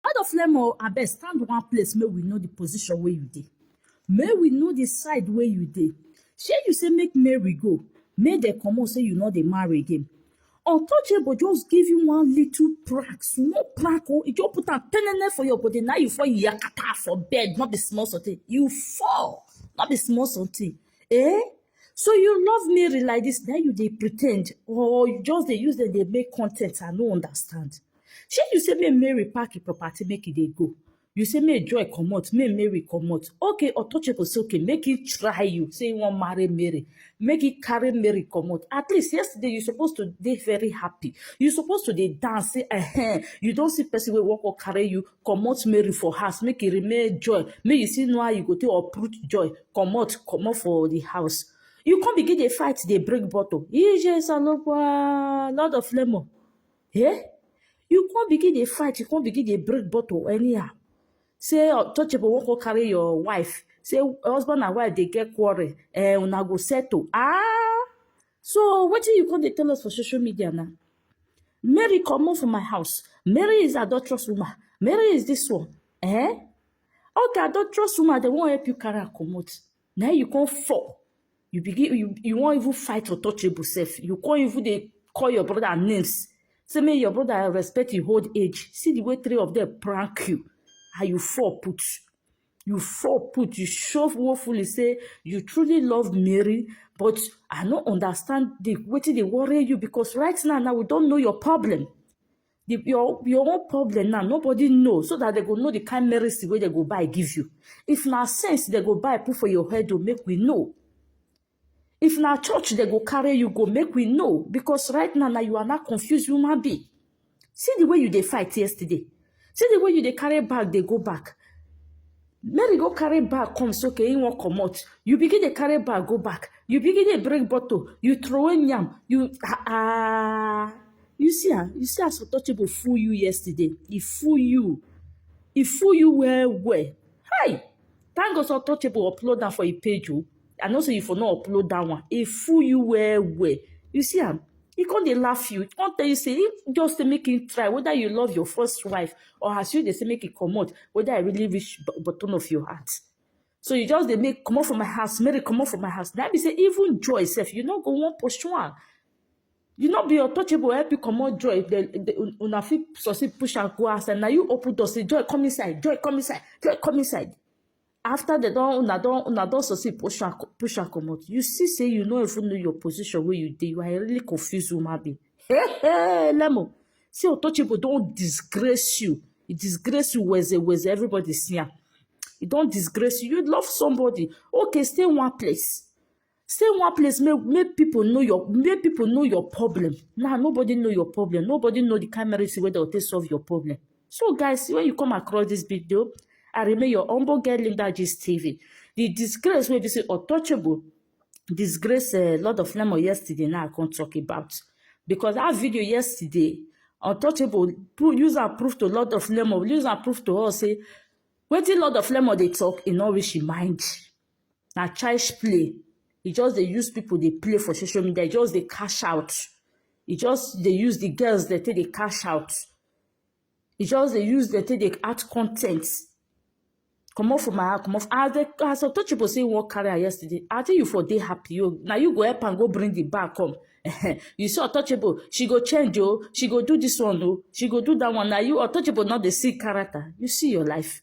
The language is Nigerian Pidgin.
Out of Lemo, I best stand one place, may we know the position where you dey. May we know the side where you dey. Shey you say make Mary go, make dem comot say you no dey marry again. Untouchable just give you one little prank, small prank o, e just put am penene for your body, now you fall yakata for bed, no be small something. You fall, no be small something. Eh? So you love Mary like this, then you dey pretend or you just dey use dem dey make content, I no understand. Shey you say make Mary pack the property make e dey go. You say make Joy comot, make Mary comot. Okay, untouchable say okay, make he try you. Say he wan marry Mary. Make he carry Mary comot. At least yesterday you suppose to dey very happy. You suppose to dey dance say eh, you don see person wey wan come carry you comot Mary for house. Make e remain Joy. Make you see know how you go take uproot Joy. Comot, comot for the house. You come begin dey fight, dey break bottle. Ije salopwa, lord of lemon. Eh? You come begin dey fight, you come begin dey break bottle anyhow. Say untouchable won't go carry your wife. Say husband and wife they get quarrel. Eh, una go settle. Ah! So what do you come dey tell us for social media now? Mary come out from my house. Mary is adulterous woman. Mary is this one. Eh? Okay, adulterous woman, they won't help you carry her come out. na you come fall you begin you you wan even fight for touchable sef you come even dey call your brother names say make your brother respect him old age see the way three of them prank you and you fall put you fall put you show woefully say you truly love Mary but I no understand the wetin dey worry you because right now now we don know your problem the, your your own problem now nobody know so that they go know the kind medicine wey they go buy give you if na sense they go buy put for your head o make we know if na church they go carry you go make we know because right now na you are now confused human being see the way you dey fight yesterday see the way you dey carry bag dey go back mary go carry bag come so ke him wan comot you begin dey carry bag go back you begin dey break bottle you throw away yam you ah ah you see ah you see as untouchable fool you yesterday e fool you e fool you well well hi thank god say untouchable upload am for him page o. I know say you for no upload that one. It fool you well well. You see am? He come dey laugh you. He come tell you say he just dey make him try whether you love your first wife or as you dey say make him comot whether I really reach b- button of your heart. So you just dey make comot for my house, Mary comot for my house. That be say even joy sef, you no go wan pursue am. You no be untouchable help you comot joy. The, the, un- una fit succeed push am go outside. Na you open door say joy come inside, joy come inside, joy come inside. after dem don una don una don succeed push am push am comot you see say you no even know your position wey you dey you are a really confused woman being hey hey lemo see otochibo don disgrace you e disgrace you weze weze everybody see am e don disgrace you you love somebody okay stay one place stay one place make make people know your make people know your problem now nobody know your problem nobody know the kind medicine wey dem take solve your problem so guys when you come across this video i remain your humble girl linda gist tv the disgrace wey be say untouchable disgrace a uh, lot of lemon yesterday now i come talk about because that video yesterday untouchable use am prove to lot of lemon use am prove to us say wetin lot of lemon dey talk e no reach im mind. na child's play e just dey use people dey play for social media e just dey cash out e just dey use the girls dem take dey cash out e just dey use dem take dey add con ten t comot for my eye comot as the as untouchable say he wan carry am yesterday i think you for dey happy you na you go help am go bring the bag come you see untouchable she go change o she go do this one o she go do that one na you untouchable no dey see character you see your life